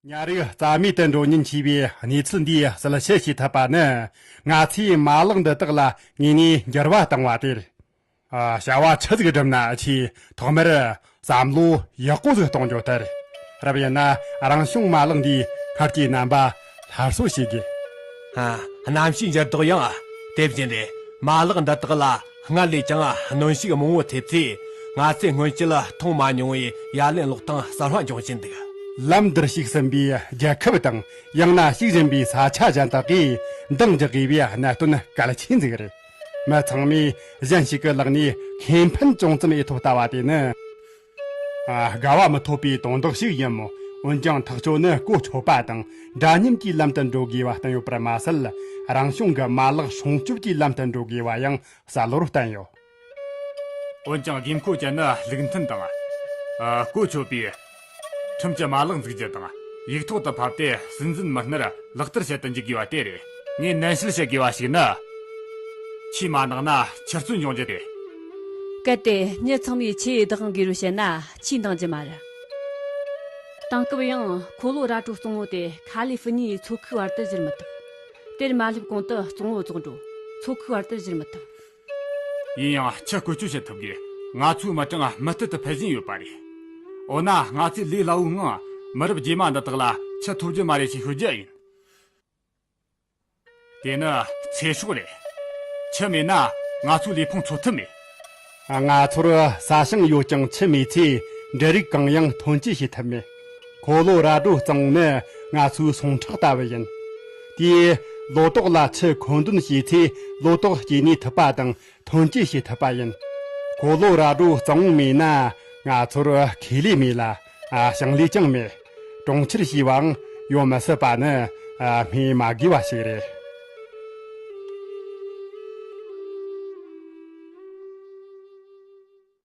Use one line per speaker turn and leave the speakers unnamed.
ཉའ་རིགས་རྩ་མེད་དུ་འགྲོ་ཉེན་ཆེ་བའི་གནས་ཚུལ་འདིའི་གསལ་བཤད་བྱེད་ཐུབ་པ་ནི་ང་ཚོས་མ་ལག་འདི་དག་ལ་དངོས་གནས་འགྱུར་བ་བཏང་བ་དེར་བྱ་བ་ཆུ་ཟིག་བསྒྲུབ་ན་ཆེས་ཐོག་མར་བསམ་བློ་ཡག་པོ་ཟིག་གཏོང་རྒྱུ་དེར་རབ་ཡིན་ན་རང་བྱུང་མ་ལག་འདིའི་སྔར་གྱི་རྣམ་པ་སླར་གསོ་བྱེད་དགོས།
གནམ་གཤིས་འགྱུར་ལྡོག་ཡང་དེ་བཞིན་རེད། མ་ལག་འདི་དག་ལ་སྔར་ལས་ཀྱང་གནོན་ཤུགས་མང་བོ་ཐེབས་ཚེ་ང་ཚོས་སྔོན་ཆད་མཐོང་མ་མྱོང་བའི་ཡ་ལན་ཀློག་སྟངས་གསར་བ་འབྱུང་བཞིན་འདུག། ལམ་འདིར་ཞུགས་
ཟིན་པའི་རྒྱལ་ཁབ་དང་ཡང་ན་ཞུགས་བཞིན་པའི་ས་ཆ་གཞན་དག་གིས་འདང་རྒྱག་དགོས་པའི་གནད་དོན་གལ་ཆེན་ཟིག་རེད། མི་ཚང་མས་གཞན་ཞིག་གི་ལག་ནས་ཁེ་ཕན་ཅུང་ཙམ་ཨེ་ཐོབ་ལྟ་བ་དེ་ནི། དགའ་བ་མི་ཐོབ་པའི་དོན་དག་ཞིག་ཡིན་མོད། འོན་ཀྱང་ཐག་གཅོད་ནི་བཀོལ་ཆོག་པ་དང་འདྲ་མཉམ་གྱི་ལམ་དུ་འགྲོ་དགོས་པ་བསྟན་ཡོད་པར་མ་ཟད། རང་བྱུང་གི་མ་ལག་སྲུང་སྐྱོབ་ཀྱི་ལམ་དུ་འགྲོ་དགོས་པ་ཡང་གསལ་བོར་བསྟན་ཡོད།
འོན་ཀྱང་དགོས་མཁོ་ཅན་ནི་ལུགས་མཐུན་དང། བཀོལ་ཆོག་པའི་ཁྲིམས་ཀྱི་མ་ལག་འཛུགས་རྒྱུ་དང་ཡིག་ཐོག་ཏུ་ཕབ་སྟེ་སྲིད་འཛིན་མི་སྣར་ལག་བསྟར་བྱེད་དུ་འཇུག་དགོས་པ་དེ་རེད། ངས་ནན་བཤད་བྱེད་དགོས་པ་ཞིག་ནི། ཆོས་མ་གནང་ན་ཆུ་རྩོད་འབྱུང་རྒྱུ་དེ། གལ་ཏེ་
གཉིད་ཚང་མས་ཆུའི་བདག་དབང་དགོས་རུ་བྱེད་ན་ཆུས་འདང་རྒྱུ་མ་རེད། དེང་སྐབས་ཡང་འཁོར་ལོ་ར་སྤྲོད་གཙོ་བོ་དེ་ཁཱ་ལི་ཧྥི་ནིའི་མཚོ་ཁུག་བར་དུ་བཞུར་མི་ཐུབ། དེར་མ་སླེབས་གོང་དུ་གཙོ་བོ་རྫོང་འབྲོག་མཚོ་ཁུག་བར་དུ་བཞུར་མི་ཐུབ།
ཡིན་ཡང་ཆུ་བཀོལ་སྤྱོད་བྱེད་ཐུབ་དགོས། ང་ཚོའི་མི་གྲངས་མུ་མཐུད་དུ་འཕེལ་བཞིན་ཡོད་པ་རེད། འོ་ན་ང་ཚོས་ལུས་སླ་བོའི་ངང་མི་རབས་རྗེས་མ་འདི་དག་ལ་ཆུ་ཐོབ་རྒྱུ་མ་རེད་ཅེས་ཤོད་རྒྱུ་ཡིན། དེ་ནི་ཚེ་སྲོག་རེད། ཁྱི་མེད་ན་ང་ཚོས་ལུས་ཕུང་འཚོ་ཐུབ་མེད། ང་
ཚོར་ས་ཞིང་ཡོད་ཀྱང་ཁྱི་མེད་ཚེ་འབྲུ་རིགས་གང་ཡང་ཐོན་སྐྱེད་བྱེད་ཐུབ་མེད། འཁོར་ལོ་ར་སྒྲོ་གཙང་ནི་ང་ཚོའི་ཟུངས་ཁྲག་ལྟ་བུ་ཡིན། དེས་ལོ་ཏོག་ལ་ཁྱི་མཁོ་འདོན་བྱས་ཚེ་ལོ་ཏོག་སྐྱེ་གནས་ཐུབ་པ་དང་ཐོན་སྐྱེད་བྱེད་ཐུབ་པ་ཡིན། འཁོར་ལོ་ར་སྒྲོ་གཙང་མེད་ན་ང་ཚོར་ཁེ་ལས་མེད་ལ། ཞིང་ལས་ཀྱང་མེད། གྲོང་ཁྱེར་ཞེས་པའང་ཡོང་མི་སྲིད་པ་ནི་སྨྲས་མ་དགོས་པ་ཞིག་རེད།